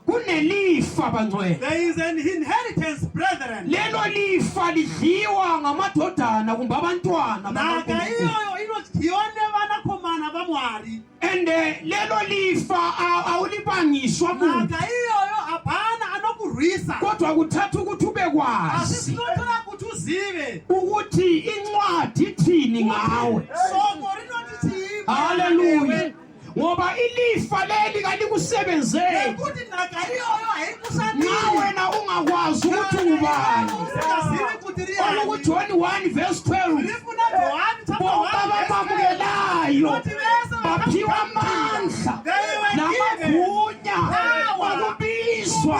kunelifa bangcwele There is an inheritance, brethren. lelo lifa lidliwa ngamadodana kumbe abantwana Naka bakaNkulunkulu. iyoyo inodyione vanakomana va Mwari. and eh, lelo lifa a- awulibangiswa muntu Naka iyoyo hapana anokurwisa. kodwa kuthatha ukuthi ube Asi kwazi zvinotora kuti uzive. ukuthi incwadi ithini ngawe Soko rinoti chii? Hallelujah. ngoba ilifa leli kalikusebenzeli nekuti nhaka iyoyo haikushandi nxa wena ungakwazi ukuthi ungubani usingazivi kuti ri yani olukujoni 1 verse 12 rifuna johani chapter bonke 1 verse 12 abamamukelayo kuti vese baphiwa amandla namagunya okubizwa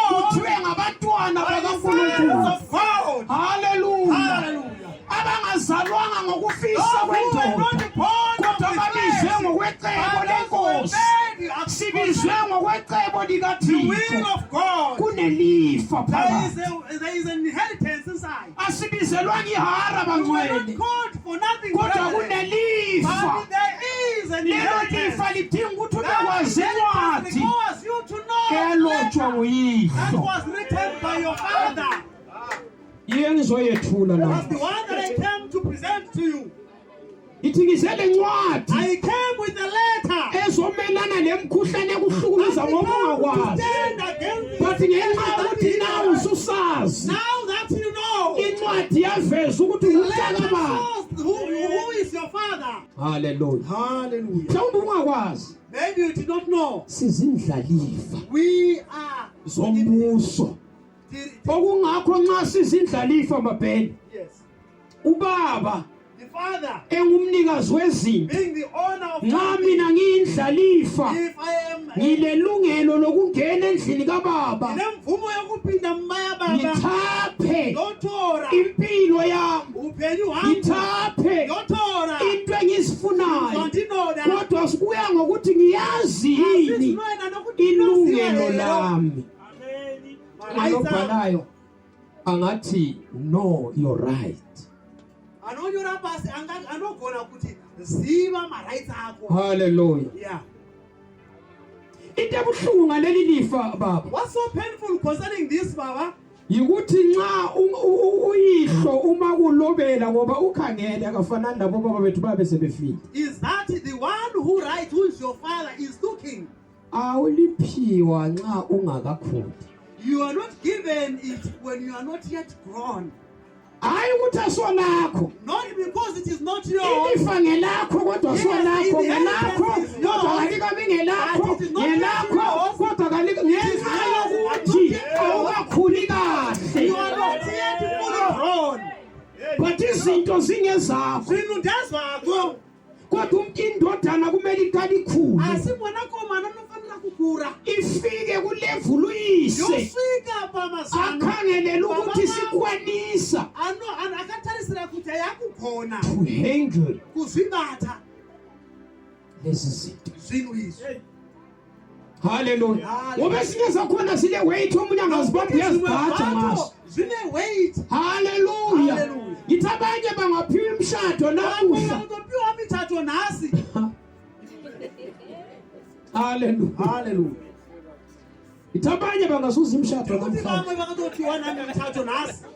kuthiwe ngabantwana bakankulunkulu Hallelujah. haleluya abangazalwanga ngokufisa kwendoda kodwa babizwe ngokwecebo lenkosi sibizwe ngokwecebo likathixo kunelifa phakathi asibizelwanga ihara bangcwele kodwa kunelifa lelo lifa lidinga ukuthi ubekwazi incwadi elotshwa nguyihlo yiyo engizoyethula la That's the one that I came to present to you. ithi ngize le ncwadi I came with a letter. ezomelana lemkhuhlane ekuhlukumeza I've ngoba come to ungakwazi stand against this but ngenxa letter that yokuthi is nawe yours. ususazi Now that you know, incwadi yaveza ukuthi the letter ngumntaka bani shows who, who is your father. haleluya Hallelujah. mhlawumbe ungakwazi Maybe you did not know. sizindlalifa We are zombuso okungakho nxa sizindlalifa mabheni ubaba engumnikazi wezinto nxa mina ngiyindlalifa ngilelungelo lokungena endlini kababa ngithaphe impilo yami ngithaphe into engizifunayo kodwa sikuya ngokuthi ngiyazi yini ilungelo lami nayo angati no your right anonyora pasi anogona kuti ziva marights ako haleluya yeah into ebuhlungu ngaleli lifa baba what's so painful concerning this baba yikuthi nxa uyihlo uma kulobela ngoba ukhangele akafanani labo baba bethu babe sebefile is that the one who right who is your father is looking awuliphiwa nxa ungakakhuli you are not given it when you are not yet grown hayi ukuthi asolakho not because it is not yours ilifa ngelakho kodwa Yes, solakho it is. ngelakho It is kodwa yours. kalikabi ngelakho But it is not ngelakho yours. kodwa kalika ngenxa yours. yokuthi Yes. awukakhuli you kahle are not yet fully grown but izinto zingezakho zinu ndezakho kodwa umntu indodana kumele iqale ikhule asi mwana komana unofanela kukura ifike kulevulu uyise yofika baba sana akhangelele ukuthi sikwanisa ano ano akatharisira kuti ayakukhona to handle kuzibatha lezi zinto zvinhu izvi Hallelujah. Ngoba esinye sakhona sile weight omunye angazibamba uyazibhaja ngaso. Zine weight. Hallelujah. Hallelujah. Ngithi abanye bangaphiwa imshado namuhla. Ngaphiwa imshado nasi. Hallelujah. Hallelujah. Ngithi abanye bangazuza imshado namhlanje. Ngaphiwa imshado nasi.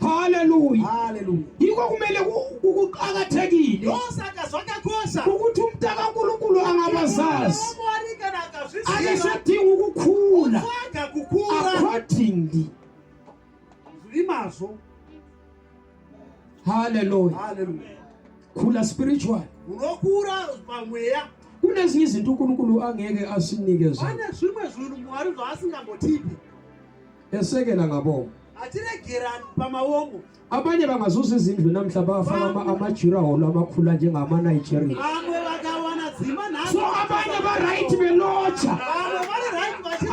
haleluya haleluya yikho kumele kuqakathekile ukuthi umntaka unkulunkulu angabazazi akesadinga ukukhula accordingly imazo haleluya haleluya khula spiritual unokhula pamweya kunezinye izinto uNkulunkulu angeke asinike zona bane zvimwe zvinhu mwari zvaasingambothipi esekela ngabomo abanye bangazuza izindlu namhla bafaka amajira holo amakhula njengamanigeria so abanye baright belotsha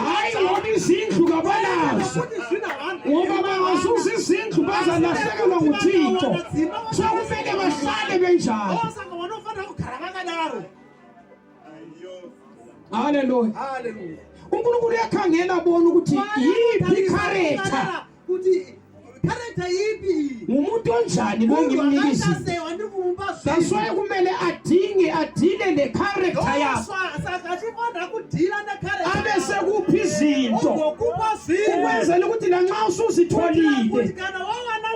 hayi ngoba izindlu kabanazo ngoba bangazuza izindlu bazalahlekelwa nguthixo so kumele bahlale benjalo haleluya unkulunkulu uyakhangela abona ukuthi yiphi ikharetha character yipi ngumuntu onjani lo ngimnikisi that's why kumele adinge adile le character yakho abe sekuphi izinto ukwenzela ukuthi lanxa usuzitholile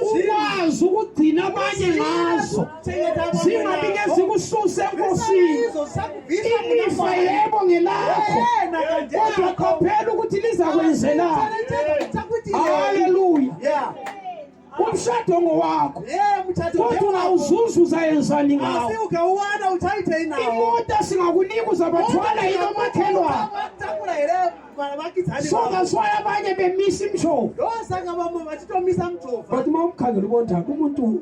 ukwazi ukugcina abanye ngazo zingabike zikususe enkosini ilifa yebo ngelakho kodwa qaphela ukuthi lizakwenzelani haleluya umshado ngowakho kodwa uzuza uzayenzani ngawo imota singakunika uzabathwala yilo makhelwane so that's why abanye bemisa imjova kodwa uma umkhangela ubonjani umuntu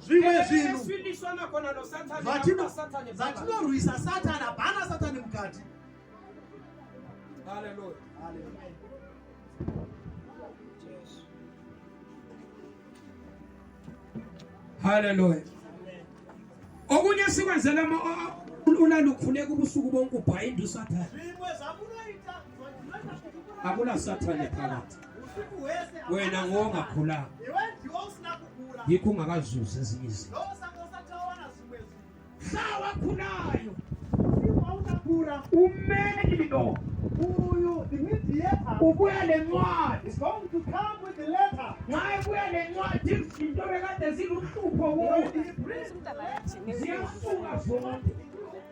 zvimwe zvinhu zvatinorwisa satani hapana satani mukati Hallelujah. Hallelujah. Hallelujah. Okunye sikwenzela ama ulalukhuleka ubusuku bonke ubhayinda usathane. Akula sathane phakathi. wena ngongakhulanga yikho ungakazuzi ezinye izinto mhla wakhulayo Kura umeli lo uyu the mediator ubuya lencwadi is going to come with the letter nxa ebuya lencwadi izinto bekade ziluhlupho kuwe ziyasuka zonke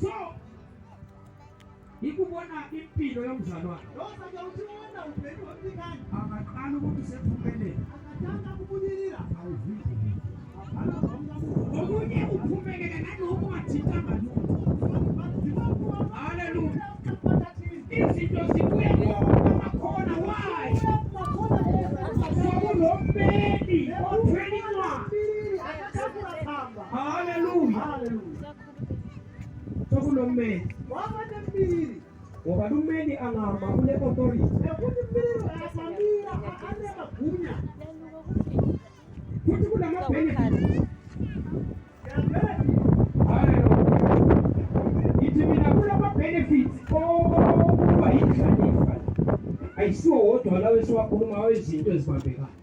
so ikubona impilo yomzalwane akaqala ukuthi usephumelele okunye uphumelele naloku ungathintanga lutho haleluya izinto zibuye kumakhona wayi sokulombeni othwelincwadi haleluya sokulommeli wabata mbili ngoba lummeli angama kule authority ekuti mbili asamira aane magunya futhi kunamabenefit ithi mina kulamabenefit okuba yinhlanifa ayisiwo wodwa lawo esiwakhuluma awezinto ezibambekayo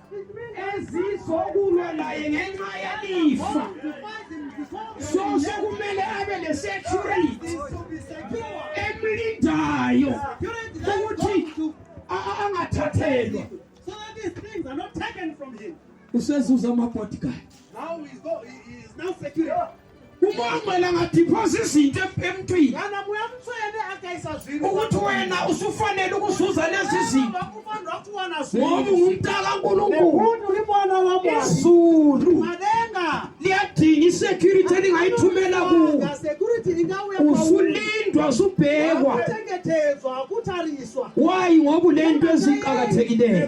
ezizokulwa laye ngenxa yelifa so sekumele abe lesecurity emlindayo ukuthi angathathelwa usezuza ama-bodyguard umangcwela ngadiphosa izinto emntwini ukuthi wena usufanele ukuzuza lezi zinto ngoba ungumntaka nkulunkuluizulu liyadinga isecurity elingayithumela kuwo usulindwa usubhekwa wayi ngoba ulento eziqakathekileyo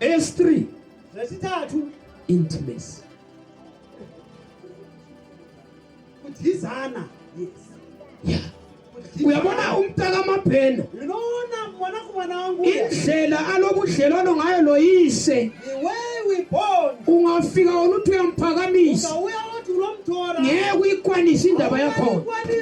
eyesithree lesithathu intimacy kudizana yes yeah uyabona umntakamabhena indlela alobudlelwano ngayo loyise ungafika wona uthi uyamphakamisa ngeke uyikwanise indaba yakhona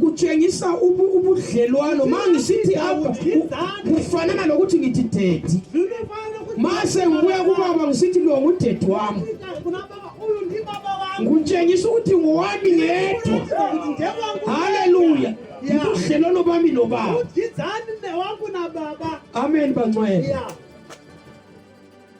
kutshengisa ubudlelwano ma ngisithi apha kufanana lokuthi ngithi dedi ma sengibuya kubaba ngisithi lo ngudedi wami ngutshengisa ukuthi ngowami ngedwa haleluya ubudlelwano bami nobaba amen bancwele